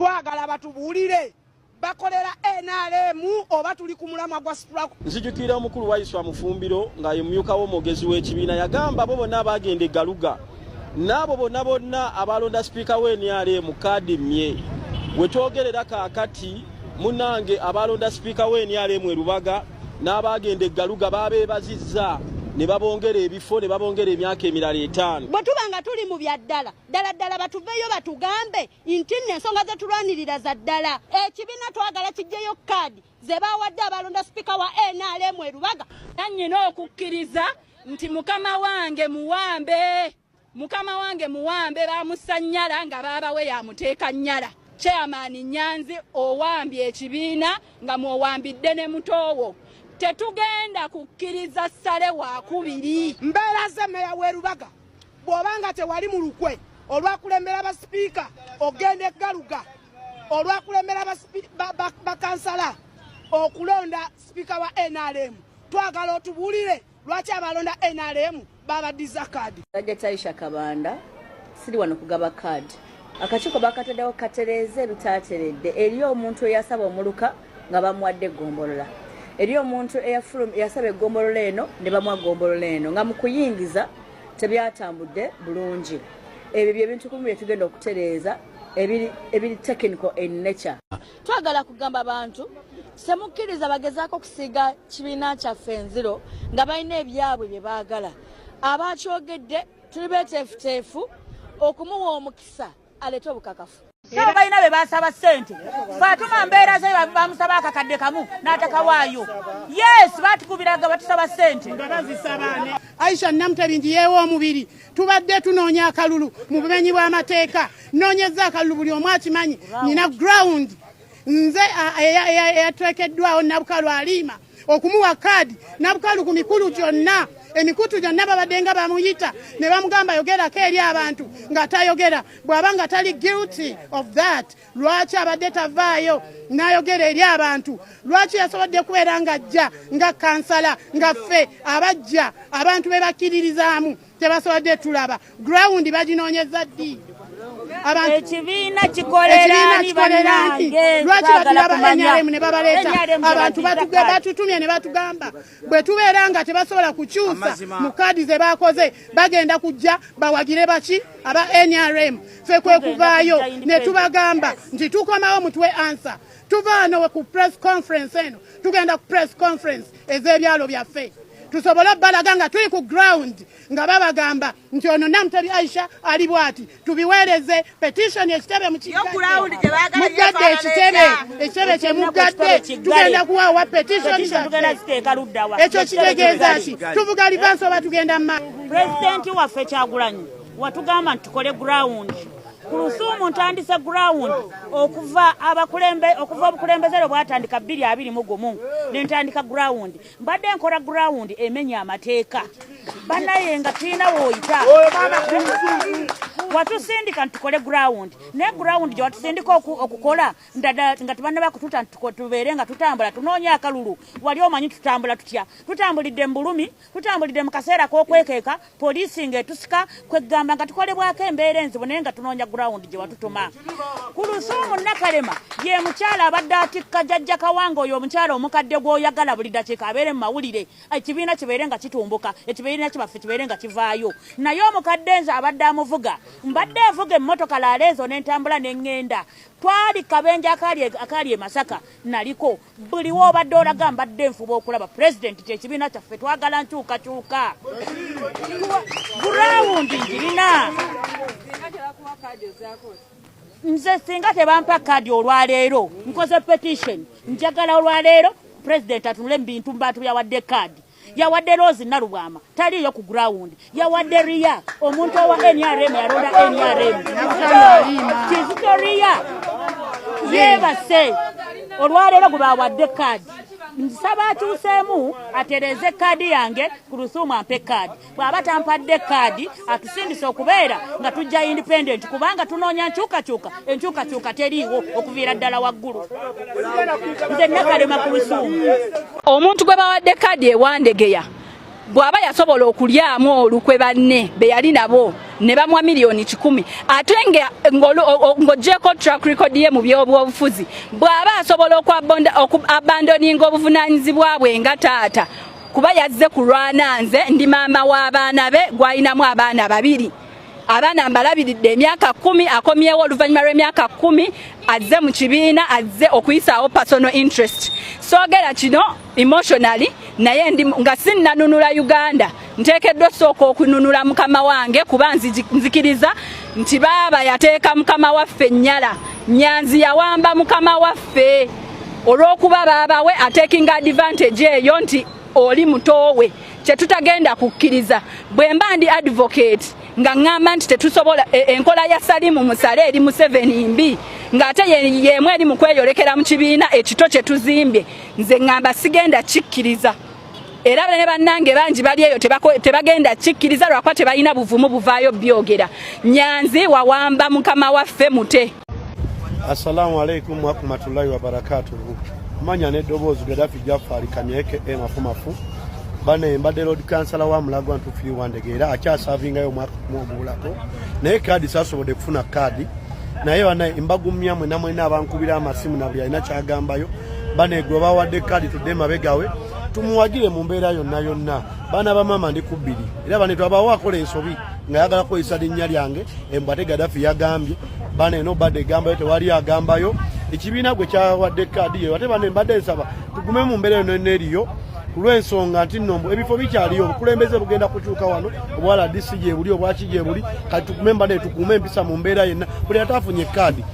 Twagala batubuulire bakolera NRM oba tuli ku mulamwa gwa struggle. Nzijukira omukulu wa Yiswa Mufumbiro nga ye mumyuka w'omwogezi w'ekibiina yagamba abo bonna abaagenda eggaluga n'abo bonna bonna abaalonda sipiika wa NRM kaadi mmye we twogerera kaakati munange abaalonda sipiika wa NRM e Lubaga n'abaagenda eggaluga baabeebazizza ne babongera ebifo ne babongera emyaka emirala etaano bwe tuba nga tuli mu bya ddala ddala ddala batuveeyo batugambe nti nno ensonga ze tulwanirira za ddala ekibiina twagala kijjeyo kaadi ze baawadde abalonda sipiika wa nrm erubaga nannyina okukkiriza nti mukama wange muwambe mukama wange muwambe bamussa nnyala nga baabawe yamuteeka nnyala chairman nyanzi owambye ekibiina nga mwowambidde ne mutoowo tetugenda kukkiriza ssale wakubiri mbeera ze meya w'erubaga bw'oba nga tewali mu lukwe olwakulembera basipiika okugenda eggaluga olwakulembera bakansala okulonda sipiika wa nrm twagala otubuulire lwaki abalonda nrm babaddiza kaadi ajataisha kabanda siri wano kugaba kaadi akakiiko bakataddewo katereeze ebitaateredde eriyo omuntu eyasaba omuluka nga bamuwadde eggombolola eri omuntu eyasaba eggombolola eno ne bamuwa ggombolola eno nga mu kuyingiza tebyatambudde bulungi ebyo byebintu kumu byetugenda okutereeza ebiri technical in nature twagala kugamba bantu temukkiriza bagezaako okusiiga kibiina kyaffe enziro nga balina ebyabwe bye baagala abakyogedde tuli beteefuteefu okumuwa omukisa alete obukakafu sabo balina be basaba ssente fatuma mbeera ze bamusaba akakadde kamu n'atakawaayo yes batukubiraga batusaba ssente aisha namuteringi yeewa omubiri tubadde tunoonya akalulu mu bumenyi bw'amateeka nnoonyeza akalulu buli omu akimanyi nina ground nze eyatwekeddwawo nabukalwaliima okumuwa kaadi nabukalu ku mikulu gyonna emikutu gyonna babadde nga bamuyita ne bamugamba yogerako eri abantu ng'atayogera bw'aba nga tali guilty of that lwaki abadde tavaayo n'ayogera eri abantu lwaki yasobodde kubeera ng'ajja nga kansala nga ffe abajja abantu be bakkiririzaamu tebasobodde tulaba ground baginoonyeza ddi ekibiina kikolerani banange lwaki batulaba nrm ne babaleeta abantu batutumye ne batugamba bwe tubeera nga tebasobola kukyusa mu kaadi ze bakoze bagenda kujja bawagire baki aba nrm fe kwe kuvaayo ne tubagamba nti tukomawo mutuwe ansa tuvaano ku press conference eno tugenda ku press conference ez'ebyalo byaffe tusobole obbalaga nga tuli ku ground nga babagamba nti ono namutebi aisha ali bwati tubiweereze petitioni ekitebe mukiggadde ekitebe ekitebe kyemuggadde tugenda kuwaawa petitioni ekyo kitegeeza ki tuvuga livansi oba tugenda mu maaso pulezidenti waffe kyagulanyi watugamba nti tukole ground kulusuumu ntandise ground okuva abakulembe okuva obukulembeze lwe bwatandika bbiri abiri mu gumu ne ntandika ground mbadde nkora ground emenya amateeka banaye nga tulina woyita watusindika ntukole ground naye ground gye watusindika okukola ndada nga tebana bakututa tubeere nga tutambula tunoonya akalulu wali omanyi tutambula tutya tutambulidde mu bulumi Tutambulidde mu kaseera k'okwekeeka poliisi ng'etusika kweggamba nga tukolebwako embeera enzibu naye nga tunoonya gurawundi gye watutuma. Ku Lusuumu Nakalema ye mukyala abadde atikka jajja Kawanga oyo omukyala omukadde gw'oyagala buli dakiika abeere mu mawulire ekibiina kibeere nga kitumbuka ekibiina kibaffe kibeere nga kivaayo naye omukadde nze abadde amuvuga mbadde evuga emmotoka laala ezo n'entambula ne ŋŋenda twali kabenje akaali e Masaka naliko buli wobadde olaga mbadde nfuba okulaba pulezidenti kyekibiina kyaffe twagala nkyukakyuka gurawundi ngirina nze singa tebampa kaadi olwaleero nkoze petition njagala olwaleero pulezidenti atunule mubintu mbantu byawadde kaadi yawadde rose nalubwama taliiyo ku ground yawadde riya omuntu owa nrm yalonda nrm kizito riya yebase olwaleero gwebawadde kaadi nsaba atuuseemu atereeze kaadi yange ku lusuumu ampe kaadi bw'aba tampadde kaadi atusindise okubeera nga tujja independent kubanga tunoonya nkyukakyuka enkyukakyuka teriiwo okuviira ddala waggulu nze nakalema ku lusuumu omuntu gwe bawadde kaadi ewandegeya bw'aba yasobola okulyamu olukwe banne be yali nabo ne bamwa miliyoni kikumi ate ng'ogyeko track record ye mu by'obwobufuzi bw'aba asobola okuabandoninga obuvunaanyizibwa bwe nga taata kuba yazze kulwana nze ndi maama w'abaana be gwalinamu abaana babiri abaana mbalabiridde emyaka kumi akomyewo oluvannyuma lw'emyaka kumi azze mu kibiina azze okuyisaawo personal interest soogera kino emotionally naye ndi nga sinnanunula uganda nteekeddwa osooka okununula mukama wange kuba nzikiriza nti baaba yateeka mukama waffe ennyala nyanzi yawamba mukama waffe olw'okuba baabawe atekinga advantage eyo nti oli mutoowe kyetutagenda kukkiriza bwe mba ndi advocate nga ŋŋamba nti tetusobola e, enkola ya salimu musale eri museveni mbi ng'ate yeemu eri mu kweyolekera mu kibiina ekito kye tuzimbye nze ŋŋamba sigenda kikkiriza era ne bannange bangi bali eyo tebagenda kikkiriza lwakuba tebalina buvumu buvaayo byogera nyanzi wawamba mukama waffe mute Assalamu alaikum warahmatullahi wabarakatuhu. Manya n'eddoboozi Gaddafi Jafari Kanyeke e Mafumafu bane mbadde lord kansala wa mulago antufiri wandege era akyasavingayo omwaka kumu oguwulako naye kaadi sasobodde kufuna kaadi naye bana embagumya mwena mwena abankubira amasimu na buli alina kyagambayo bane gwe bawadde kaadi tudde mabegawe tumuwagire mu mbeera yonna yonna baana bamaama ndi kubbiri era bane twabawo akola ensobi nga yagala kukozesa linnya lyange embwate gadafi yagambye bana eno badde egambayo tewali agambayo ekibiina gwe kyawadde kaadi yeyo ate bane mbadde nsaba tugume mu mbeera eno eneriyo ku lw'ensonga nti nno ebifo bikyaliyo obukulembeze bugenda kukyuka wano obwa rdc gyebuli obwaki gyebuli kati tugume mbadde tukuume empisa mu mbeera yenna buli ate afunye kaadi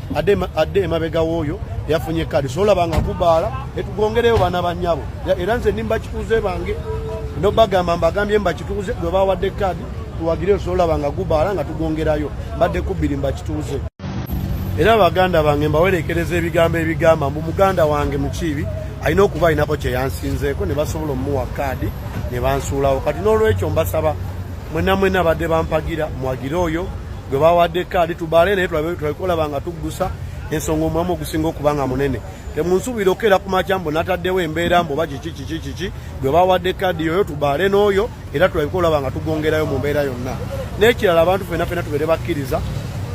adde emabega wooyo yafunye kaadi solabanga kubaala etugongereyo bana banyabo era nze nimba kikuze bange nobagamba mbagambye mbakituuze gwe bawadde kaadi tuwagire osobola olaba nga gubaala nga tugongerayo mbadde kubbiri mbakituuze era baganda bange mbawerekereza ebigambo ebigamba mbu muganda wange mukiibi alina okuba alinako kyeyansinzeeko ne basobola omuwa kaadi ne bansuulawo kati n'olwekyo mbasaba mwena mwena badde bampagira mwagire oyo gwe bawadde kaadi tubaale naye tulabekolaba nga tuggusa ensonga omulamu ogusinga okuba nga munene temunsuubira okukeera ku makya mbu nataddewo embeera mbu oba kiki kiki kiki gwe bawadde kaadi yoyo tubaale n'oyo era tulabika olaba nga tugongerayo mu mbeera yonna n'ekirala abantu fena fena tubeere bakkiriza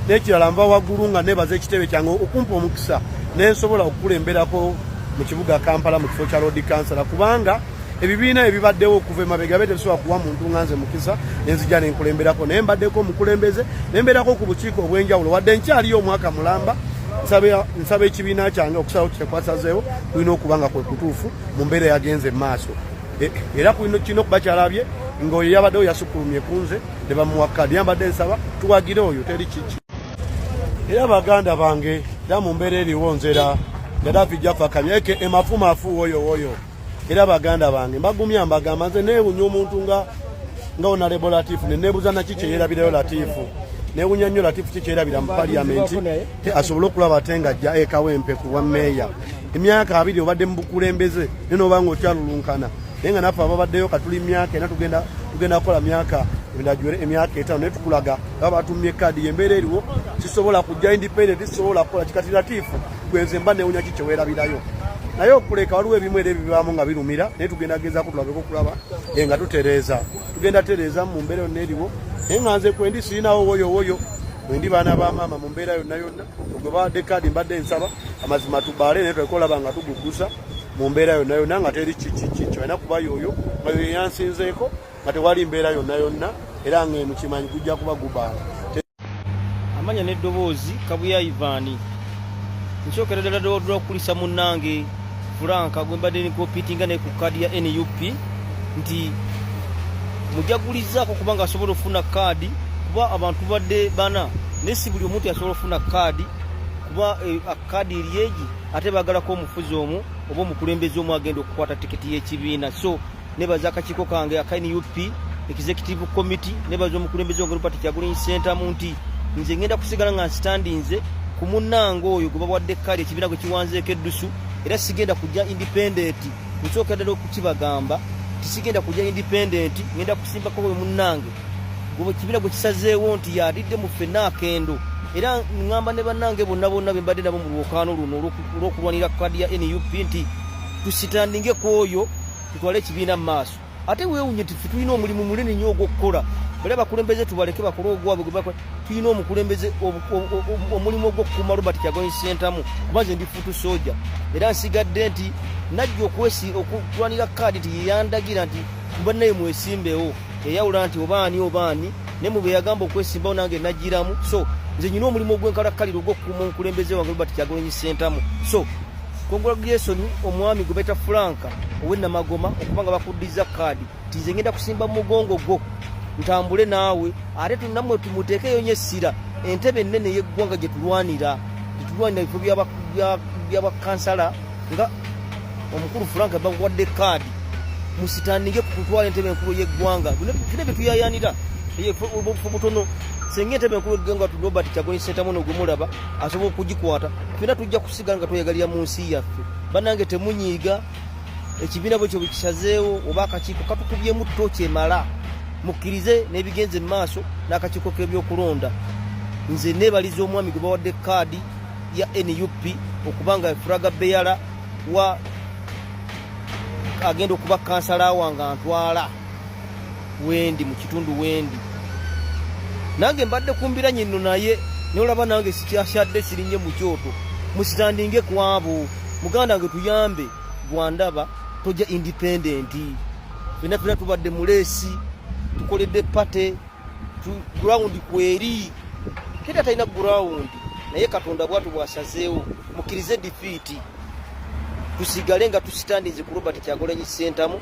n'ekirala nva waggulu nga nebaza ekitebe kyange okumpa omukisa nensobola okukulemberako mu kibuga kampala mu kifo kya lodi kansala kubanga ebibiina ebibaddewo okuva emabega be tebisobola kuwa muntu nga nze mukisa nenzija nenkulemberako naye mbaddeko omukulembeze nembeerako ku bukiiko obw'enjawulo wadde nkyaliyo omwaka mulamba nsaba ekibiina kyange okusalawo kyekwasazeewo kulina okuba nga kwe kutuufu mu mbeera yagenze mu maaso E, era kulino kino kuba kyalabye ngaoyo yabaddewo yasukulumye ku nze ne bamuwa kadi yambadde nsaba tuwagire oyo teri kiki era baganda bange era mu mbeera eriwo nzera gadaafi jafakabya eke emafumafu woyo woyo era baganda bange mbagumya mbagamba nze neewunya omuntu nga nga onalebo latifu neneebuza naki kyeyerabirayo latifu neewunya nnyo latifu ki kyeyerabira mu paliyamenti asobole okulaba ate ng'ajja ekawempe ku bwa meeya emyaka abiri obadde mu bukulembeze naye noba nga okyalulunkana naye nga naffe ababaddeyo katuli myaka ena tugenda tugenda kukola myaka ndajwere emyaka etaano naye tukulaga aba batumye kaadi yembeera eriwo sisobola kujja independent sisobola kukola kikati latiifu gwenze mba newunya ki kyewerabirayo naye okuleka waliwo ebimu era ebibaamu nga birumira naye tugenda gezaku tulabeko okulaba nga tutereeza tugenda tereeza mu mbeera yonna eriwo naye nga nze kwendi sirinawo woyo woyo mwendi baana ba maama mu mbeera yonna yonna gwe bawadde kaadi mbadde nsaba amazima tubaale naye twalika olaba nga tuguggusa mu mbeera yonna yonna nga teri kikiki kyolina kuba yoyo nga yoyo yansinzeeko nga tewali mbeera yonna yonna era nga eno kimanyi gujja kuba gubaala amanya n'eddoboozi kabuya ivaani nsookera ddala ddala okukulisa munnange Frank gwe mbadde nikopitinga naye ku kaadi ya nup nti mujagulizaako kubanga asobola okufuna kaadi kuba abantu badde bana naye si buli omuntu yasobola okufuna kaadi kuba eh, kaadi eryegi ate bagalako omufuzi omu oba omukulembeze omu agenda okukwata tiketi y'ekibiina so nebaza akakiiko kange aka nup executive committee nebaza omukulembeze wange robert kyagulanyi sentamu nti nze ngenda kusigala nga nsitandinze ku munnange oyo gwe bawadde kale ekibiina gwe kiwanzeeko eddusu era sigenda kujja indipendenti nsookera ddala okukibagamba tisigenda kujja indipendenti ngenda kusimbako we munnange ekibiina gwe kisazeewo nti yalidde mu ffenna akendo era ŋŋamba ne bannange bonna bonna be mbadde nabo mu lwokaano luno olw'okulwanira kadi ya nup nti tusitandinge ku oyo tutwale ekibiina mu maaso ate weewunye nti ffe tulina omulimu munene nnyo ogw'okukola bali abakulembeze tubaleke bakole ogwabwe gwebakole tulina omukulembeze omulimu ogw'okukuuma robert kyagoyi sentamu kuba nze ndi futu soja era nsigadde nti najja okwesi okulwanira kaadi nti yeyandagira nti mubannaye mwesimbewo yayawula nti obaani obaani naye mu beyagamba okwesimbawo nange nagiramu so nze nyina omulimu ogwenkalakkalira ogw'okukuuma omukulembeze wange robert kyagoyi sentamu so Congratulations omwami gubeta Franka owe Namagoma okuba nga bakuddiza kaadi nti nze ngenda kusimba mu mugongo gwo ntambule naawe ate tunamwe tumuteekeyo nyo essira entebe ennene y'eggwanga gye tulwanira gye tulwanira ebifo byabakansala nga omukulu Franka bakuwadde kaadi musitandike ku kutwala entebe enkulu y'eggwanga fina bye tuyayanira obufo butono singa entebe enkulu y'eggwanga tu Robert Kyagulanyi Ssentamu n'ogumulaba asobola okugikwata fina tujja tusigala nga tweyagalira mu nsi yaffe banange temunyiiga ekibiina bwekyo bwekisazeewo oba akakiiko katukubyemu tto kyemala mukkirize n'ebigenze mu maaso n'akakiiko k'ebyokulonda nze nebaliza omwami gwe bawadde kaadi ya nup okuba nga furaga beyala wa agenda okuba kansala wange antwala wendi mu kitundu wendi nange mbadde kumbira nyinno naye nolaba nange sikyasyadde sirinye mu kyoto musitandinge kwabo muganda wange tuyambe gwandaba toja independenti fena fena tubadde muleesi tukoledde pate gurawundi kweri teri atalina gurawundi naye katonda bwatu bwasazeewo mukirize difiiti tusigale nga tusitandinze ku robert kyagolanyi sentamu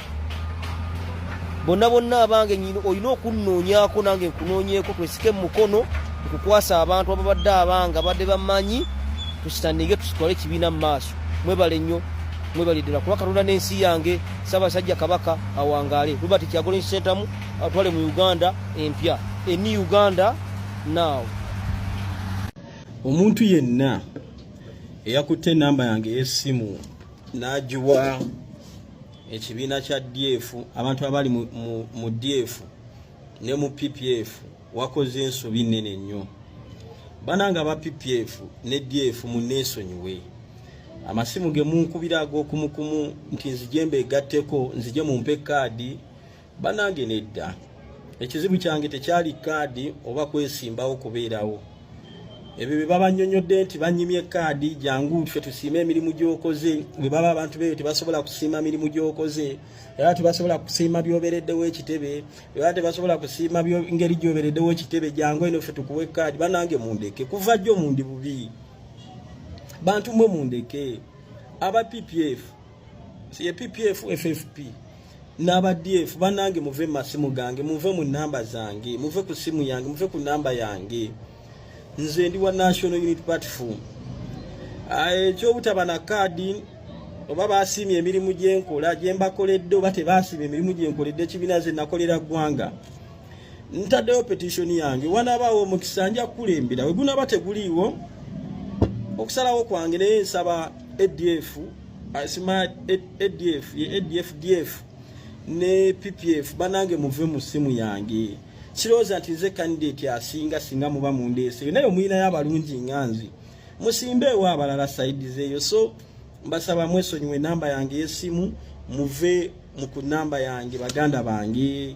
bonna bonna abange nyini olina okunnoonyako nange nkunoonyeeko twesike mu mukono nkukwasa abantu ababadde abange abadde bamanyi tusitanige tusitwale ekibiina mu maaso mwebale nnyo mwebale ddala kuba katonda n'ensi yange ssaabasajja kabaka awangaale robert kyagolensi sentamu atwale mu uganda empya eni uganda now omuntu yenna eyakutte enamba yange ey'essimu n'agiwa ekibiina kya df abantu abali mu df ne mu ppf wakoze ensobi nnene nnyo bananga aba ppf ne df munneesonyiwe amasimu ge munkubira ag'okumukumu nti nzije mbeegatteko nzije mumpe kaadi banange nedda ekizibu kyange tekyali kaadi oba kwesimbawo kubeerawo ebyo bye babanyonyodde nti banyimye kaadi jangu ffe tusiime emirimu gyokoze bwe baba abantu beyo tebasobola kusiima mirimu gyokoze era tebasobola kusiima byobereddewo ekitebe era tebasobola kusiima ngeri gyobereddewo ekitebe jangu eno ffe tukuwe kaadi banange mundeke kuva jjo mundi bubi bantu mwe mundeke aba ppf ye PPF FFP n'aba DF banange muve mu masimu gange muve mu namba zange muve ku simu yange muve ku namba yange nze ndi wa National Unity Platform ah, ekyobutaba na kaadi oba basiimye emirimu gyenkola gyembakoledde oba tebasiimye emirimu gyenkoledde ekibiina ze nakolera ggwanga ntaddeyo petition yange wanaabaawo omukisa nja kukulembera we gunaaba teguliiwo okusalawo kwange naye nsaba adf asima adf ye adf df ne ppf banange muve mu ssimu yange kirowooza nti nze kandidate asinga singa muba mundeeseyo naye omuyinayo abalungi nga nze musimbe ewa abalala saidi zeeyo so mbasaba mwesonyiwe enamba yange y'essimu muve mu ku namba yange baganda bange